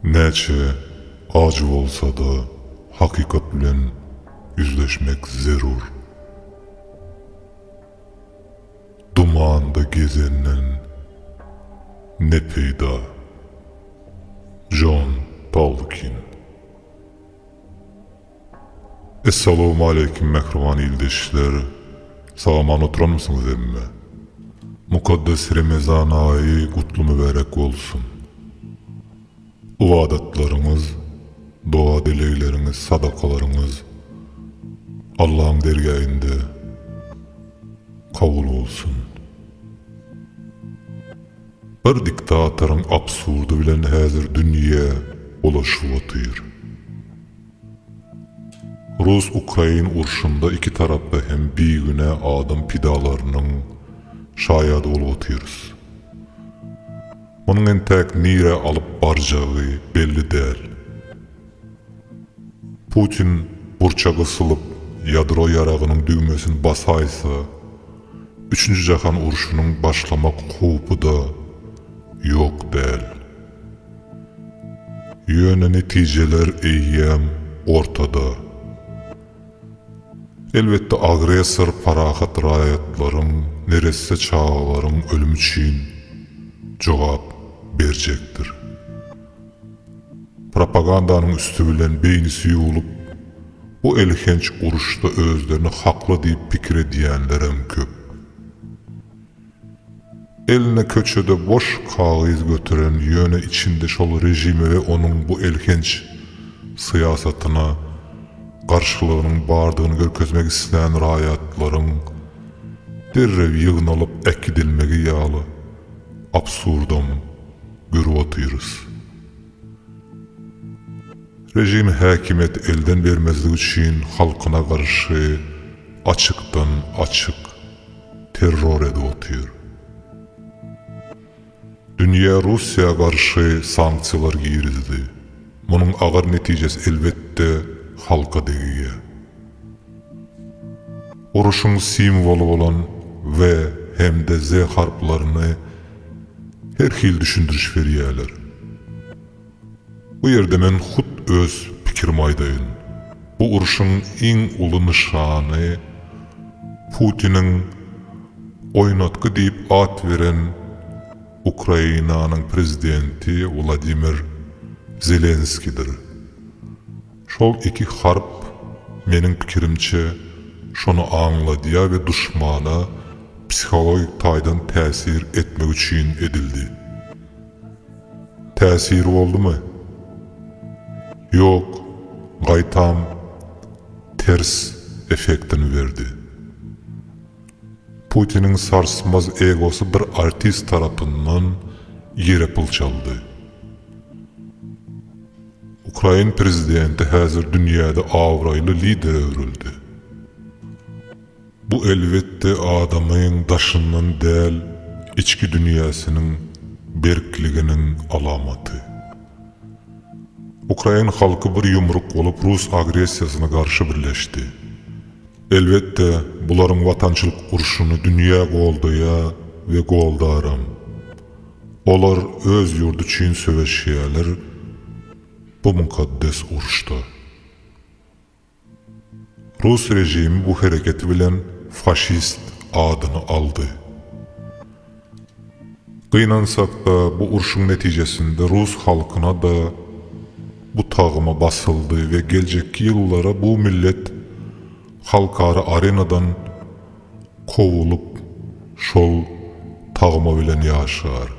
Näçe ajy bolsa-da hakykat bilen ýüzleşmek zerur. Dumanda gezenden ne peýda? Jon Tolkin. Essalawmaleýkim mähriban ildeşler! Sag-aman oturanmysyňyz hemme? Mukaddes Remezan aýy gutly-mübärek bolsun! Ybadatlaryňyz, doga-dilegleriňiz, sadakalaryňyz Allaň dergähinde kabul bolsun! Bir diktatoryň absurdy bilen häzir dünýä ulaşyp otyr. Rus-ukrain urşunda iki tarapda hem bigünä adam pidalarynyň şaýady bolup otyrys. Munuň entäk nirä alyp barjagy belli däl. Putin burça gysylyp, ýadro ýaragynyň düwmesini basaýsa, üçünji jahan urşunyň başlamak howpy-da ýok däl. Ýöne netijeler eýýäm ortada. Elbetde agressor parahat raýatlaryň, neresse çagalaryň ölümi üçin jogap berjekdir. Propagandanyň üsti bilen beýnisi ýuwlup, bu elhenç uruşda özlerini hakly diýip pikir edýänlerem köp. Eline köçede boş kagyz göteren, ýöne içinde şol režime we onuň bu elhenç syýasatyna garşylygynyň bardygyny görkezmek islän raýatlaryň derrew ýygnalyp äkidilmegi ýaly absurdam görüp otyrys. Režim häkimiýeti elden bermezlik üçin halkyna garşy açykdan-açyk. terror edip otyr. Dünýä Russiýa garşy sanksiýalar girizdi. Munuň agyr netijesi elbetde halka degýä. Uruşyň simwoly bolan we hem-de ze harplaryny her hili düşündiriş berýäler. Bu ýerde men hut öz pikirimi aýdaýyn. Bu urşuň iň uly nyşany Putiniň oýnatgy diýip at beren Ukrainanyň prezidenti Wladimir Zelenskidir. Şol iki harp, meniň pikirimçe, şony aňladýar we duşmana psihologik taýdan täsir etmek üçin edildi. Täsir boldumy? Ýok, gaýtam ters effektini berdi. Putiniň sarsmaz egosy bir artist tarapyndan ýere pyl çaldy. Ukrain prezidenti häzir dünýäde abraýly lidere öwrüldi. Bu elbetde adamyň daşyndan däl içki dünýäsiniň berkliginiň alamaty. Ukrain halky bir ýumruk bolup rus agressiýasyna garşy birleşdi. Elbetde bularyň watançylyk urşuny dünýä goldaýa we goldaram. Olar öz ýurdy üçin söweşýäler bu mukaddes urşda. Rus režimi bu hereketi bilen faşist adyny aldy. Gynansak-da, bu urşuň netijesinde rus halkyna-da bu tagyma basyldy we geljekki ýyllara bu millet halkara arenadan kowulyp, şol tagma bilen ýaşar.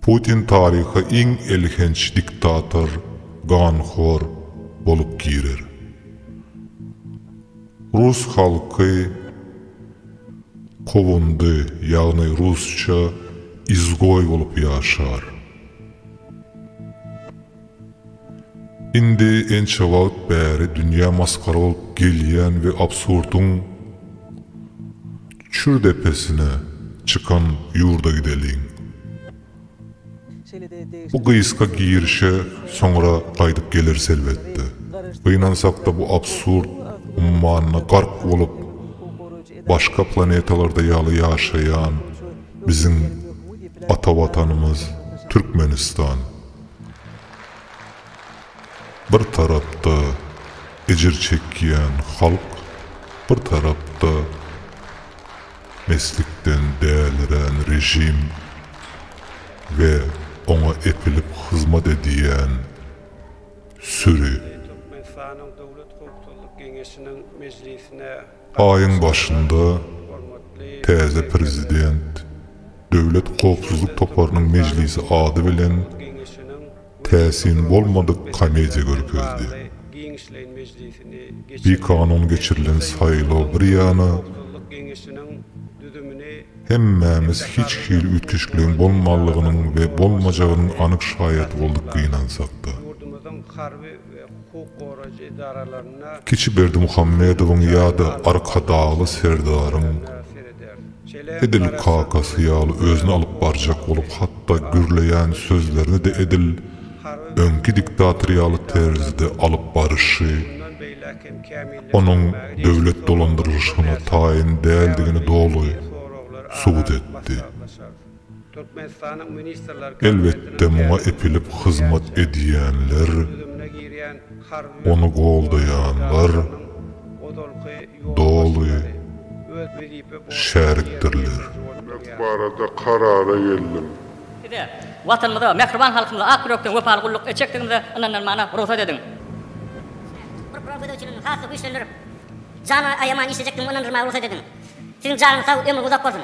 Putin taryha iň elhenç diktator, ganhor bolup girer. Rus halky kowundy, ýagny rusça izgoý bolup ýaşar. Indi ençe wagt bäri dünýä masgara bolup gelýän we absurdyň çür depesine çykan ýurda gideliň. Bu gysga girişe soňra gaýdyp geleris elbetde. Gynansakda bu absurd ummanyna gark bolup başga planetalarda ýaly ýaşaýan biziň ata watanymyz Türkmenistan. Bir tarapda ejir çekýän halk, bir tarapda meslikden dälirän režim we oňa epilip hyzmat edýän süri. Türkmenistanyň Döwlet howpsuzlyk geňeşiniň mejlisine Aýyň başynda täze prezident Döwlet howpsuzlyk toparynyň mejlisi ady bilen täsin bolmadyk komediýa görkezdi. Bikanun geçirilen saýlaw bir ýana, hemmämiz hiç hili üýtgeşikligiň bolmanlygynyň we bolmajagynyň anyk şaýady bolduk gynansak-da. we hukuk goraýjy edaralarynda Kiçi Berdimuhamedowyň ýa-da Arkadagly Serdaryň edil kakasy ýaly özüni alyp barjak bolup hatda gürleýän sözlerini-de edil öňki diktator ýaly terzde alyp baryşy onuň döwlet dolandyrylyşygyna taýyn däldigini doly subut etdi. Türkmenistanyň Ministrler Kabinetiniň Elbetde muňa epilip hyzmat edýänler, ony goldaýanlar doly şärikdirler. Mek barada karara geldim. Size, Watanymyza, mähriban halkymyza ak ýürekden wepaly gulluk etjekdigimize ynananmana rugsat ediň. Size, bir Gurama gözegçiligini has-da güýçlendirip, jany aýaman işlejekdigimi ynandyrmaga rugsat ediň. Siziň janyňyz sag, ömrüňiz uzak bolsun!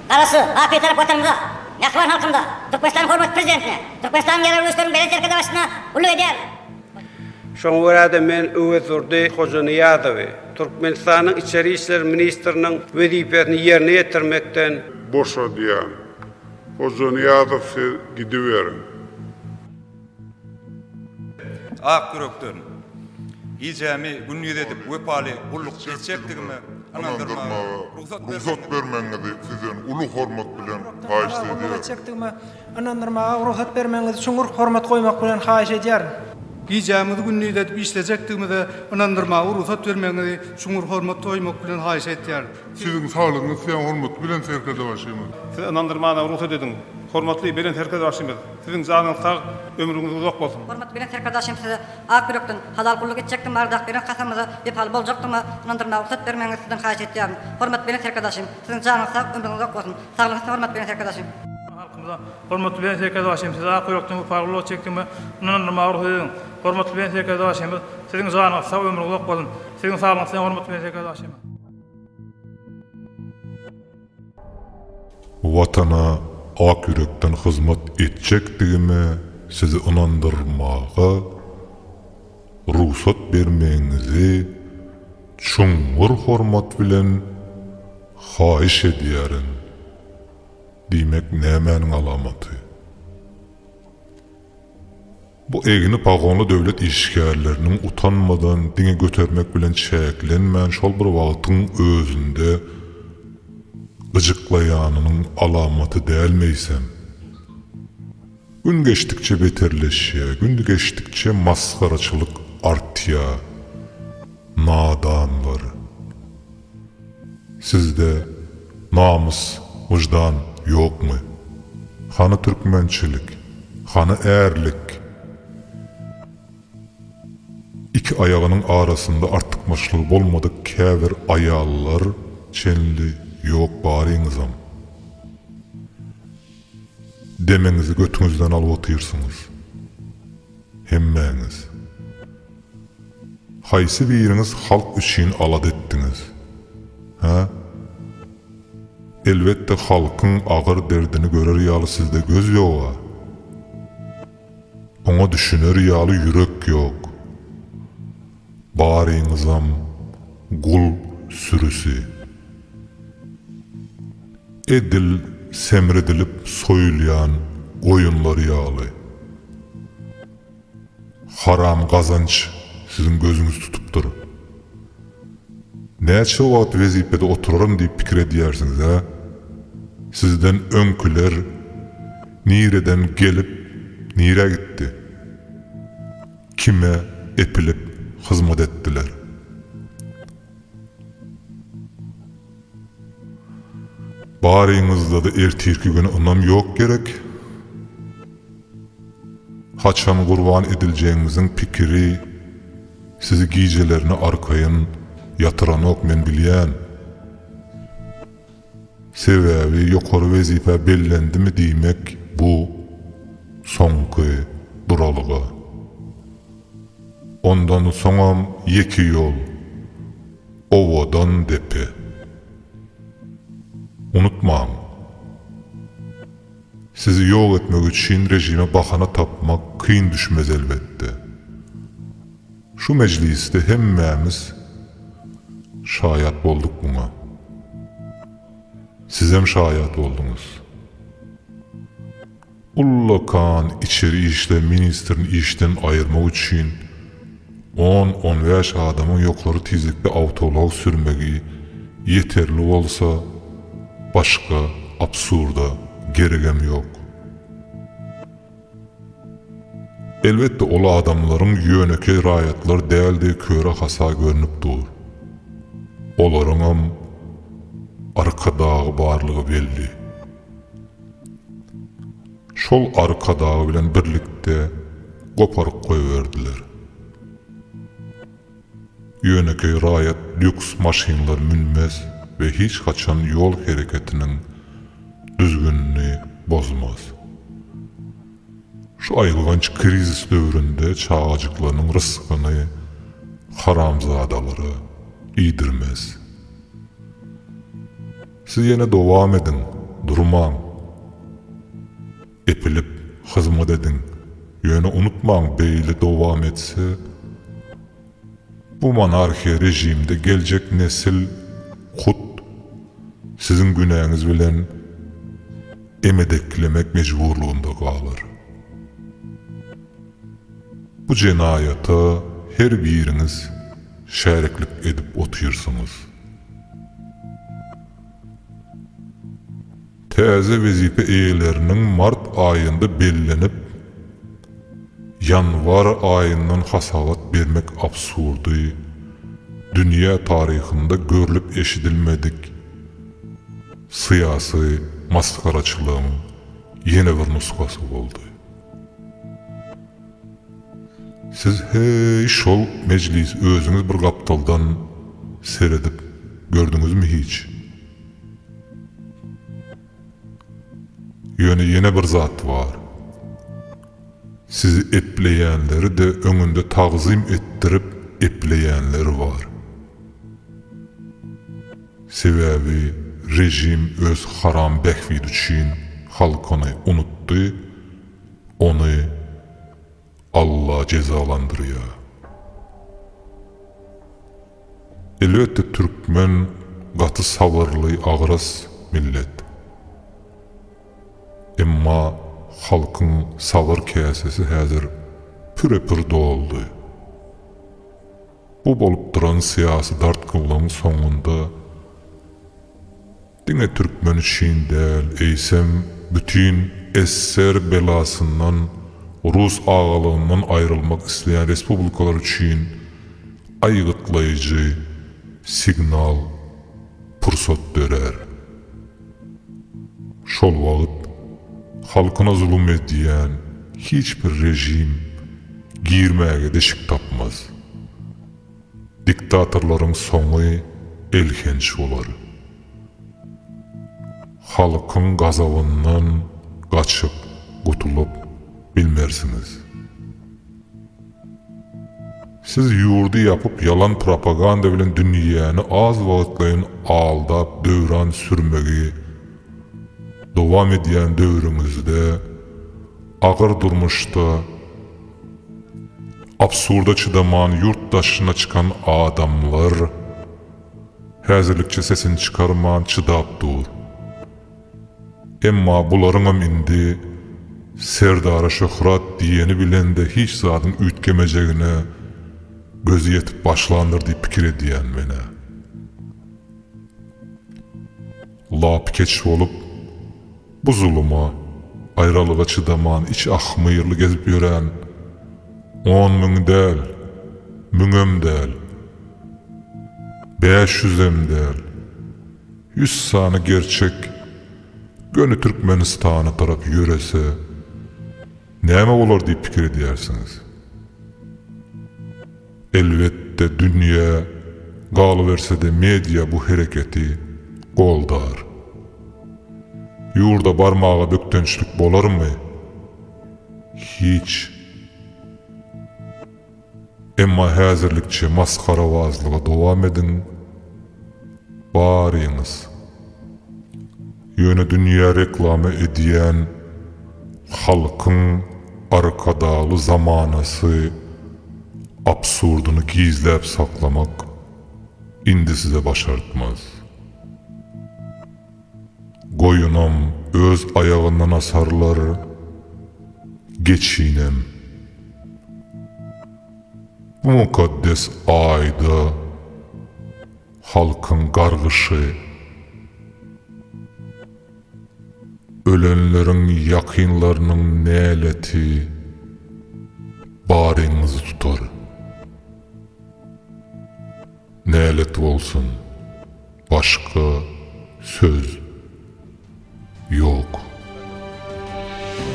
Garaşsyz, Bapytarap Watanymyza, mähriban halkymyza, Türkmenistanyň hormatly Prezidentine, Türkmenistanyň ýaragly güýçleriniň Belent Serkerdesi başyna gulluk edýäris. Şoňa görä-de, men Öwezdurdy Hojanyýazowy Türkmenistanyň Içeri işler ministriniň wezipesini ýerine ýetirmekden, boşadýan. Hojanyýazow siz gidiberiň. Ak ýürekden, gijämi gündiz edip wepaly gulluk etjekdigime ynandyrmaga rugsat bermegiňizi sizden uly hormat bilen haýyşt edýärin. Gulluk etjekdigime ynandyrmaga rugsat bermegiňizi çuňňur hormat goýmak bilen haýyş edýärin. Gijämiz gündiz edip işlejekdigimize ynandyrmaga rugsat bermegiňizi çuňňur hormat goýmak bilen haýyş edýärin. Siziň saglygyňyz size hormatly Belent Serkerdebaşymyz. Siz ynandyrmaga rugsat ediň, hormatly Belent Serkerdebaşymyz! Siziň janyňyz sag, ömrüňiz uzak bolsun. Hormatly Belent Serkerdaşym size ak ýürekden halal gulluk etjekdigime Ardak beren kasamyza wepaly boljakdygyma ynandyrmaga rugsat bermegiňizi sizden haýyş etýärin. Hormatly Belent Serkerdaşym siziň janyňyz sag, ömrüňiz uzak bolsun. Saglygyňyz üstün hormatly Belent Serkerdaşym. Halkymyza Hormatly Belent Serkerdaşym size ak ýürekden wepaly gulluk etjekdigime ynandyrmaga rugsat ediň. Hormatly Belent Serkerdaşymyz siziň janyňyz sag, ömrüňiz uzak bolsun. Siziň saglygyňyz üstün hormatly Belent Serkerdaşym. Watana ak ýürekden hyzmat etjekdigime sizi ynandyrmaga rugsat bermegiňizi çuňňur hormat bilen haýyş edýärin diýmek nämäniň alamaty? Bu egni pagonly döwlet işgärleriniň utanmadan diňe götermek bilen çäklenmän şol bir wagtyň özünde gyjyklaýanynyň alamaty däl meýsem. Gün geçdikçe beterleşýär, gün geçdikçe masgaraçylyk artýar. Nadanlar. Sizde namys wyždan ýokmy? Hany türkmençilik? Hany ärlik? Iki aýagynyň arasynda artykmaçlygy bolmadyk käbir aýallar çenli ýok baryňyzam. Demeňizi götüňizden alyp otyrsyňyz hemmäňiz. Haýsy biriňiz halk üçin alada etdiňiz? Hä? Elbetde halkyň agyr derdini görer ýaly sizde göz ýog-a. Oňa düşüner ýaly ýürek ýok. Baryňyzam gul sürüsi. Edil semredilip soýulýan goýunlar ýaly. Haram gazanç siziň gözüňizi tutupdyr. Näçe wagt wezipede oturaryn diýip pikir edýärsiňiz-ä? Sizden öňküler nireden gelip, nirä gitdi? Kime epilip hyzmat etdiler? Baryňyzda-da ertirki güne ynam ýok gerek. Haçan gurban ediljegiňiziň pikiri sizi gijelerine arkaýyn ýatyranok men bilýän. Sebäbi ýokary wezipä bellendimi diýmek bu soňky duralga. Ondan soňam ýeke ýol. Owadan depe. Unutmaň! Sizi ýok etmek üçin režime bahana tapmak kyn düşmez elbetde. Şu mejlisde hemmämiz şaýat bolduk muňa. Sizem şaýat bolduňyz. Ullakan içeri işler ministrini işden aýyrmak üçin on-on bäş adamyň ýokary tizlikli awtoulag sürmegi ýeterli bolsa, başga absurda geregem ýok. Elbetde, ol adamlaryň ýönekeý raýatlar däldigi köre-hasa görnüp dur. Olaryňam Arkadagy barlygy belli. Şol arkadagy bilen birlikde goparyp goýberdiler. Ýönekeý raýat lýuks maşynlar münmez we hiç haçan ýol hereketiniň düzgünini bozmaz. Şu aýylganç krizis döwründe çagajyklarynyň rysgyny haramzadalara iýdirmez. Siz ýene dowam ediň, durmaň. Epilip, hyzmat ediň. Ýöne unutmaň, beýle dowam etse, bu monarhiýa režimde geljek nesil hut siziň günäňiz bilen emedeklemek mejburlygynda galar. Bu jenaýata her biriňiz şäriklik edip otyrsyňyz. Täze wezipe eýeleriniň mart aýynda bellenip, ýanwar aýyndan hasabat bermek absurdy, dünýä taryhynda görlüp-eşidilmedik syýasy masgaraçylygyň ýene bir nusgasy boldy. Siz heý şol mejlis özüňiz bir gapdaldan seredip gördüňizmi hiç? Ýöne ýene bir zat bar. Sizi epleýänleri-de öňünde tagzym etdirip epleýänleri bar. Sebäbi režim öz haram bähbidi üçin halkyny unutdy, ony Alla jezalandyrýar. Elbetde türkmen gaty sabyrly agras millet. Emma halkyň sabyr käsesi häzir püre-pür doldy. Bu bolup duran syýasy dartgynlygyň soňunda diňe türkmen üçin däl, eýsem, bütin SSR belasyndan, rus agalygyndan aýrylmak isleýän respublikalar üçin aýgytlaýjy signal, pursat dörär. Şol wagt halkyna zulum edýän hiç bir režim girmäge deşik tapmaz. Diktatorlaryň soňy elhenç bolar. Halkyň gazabyndan gaçyp gutulyp bilmersiňiz. Siz ýurdy ýapyp ýalan propaganda bilen dünýäni az wagtlaýyn aldap döwran sürmegi dowam edýän döwrüňizde agyr durmuşda absurda çydaman ýurt daşyna çykan adamlar häzirlikçe sesini çykarman çydap dur. Emma bularyňam indi Serdara şöhrat diýeni bilen-de hiç zadyň üýtgemejegine gözi ýetip başlandyr diýip pikir edýän men-ä. Lapykeç bolup, bu zuluma, aýralyga çydaman içi ahmyrly gezip ýören on müň däl, müňem däl, bäş ýüzem däl, Ýüz sany gerçek göni Türkmenistana tarap ýörese, näme bolar diýip pikir edýärsiňiz? Elbetde, dünýä, galyberse-de media bu hereketi goldar. Ýurda barmaga bökdençlik bolarmy? Hiç. Emma häzirlikçe masgarabazlygy dowam ediň baryňyz. Ýöne dünýä reklama edýän halkyň Arkadagly zamanasy absurdyny gizläp saklamak indi size başartmaz. Goýunam öz aýagyndan asarlar, geçinem. Bu mukaddes aýda halkyň gargyşy, ölenleriň ýakynlarynyň näleti baryňyzy tutar. Nälet bolsun başga söz ýok.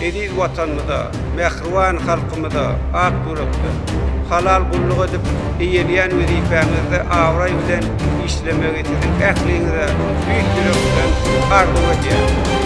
Eziz Watanymyza, mähriban halkymyza ak ýürekden, halal gulluk edip, eýeleýän wezipäňizde abraý bilen işlemegi siziň ähliňize tüýs ýürekden arzuw edýärin.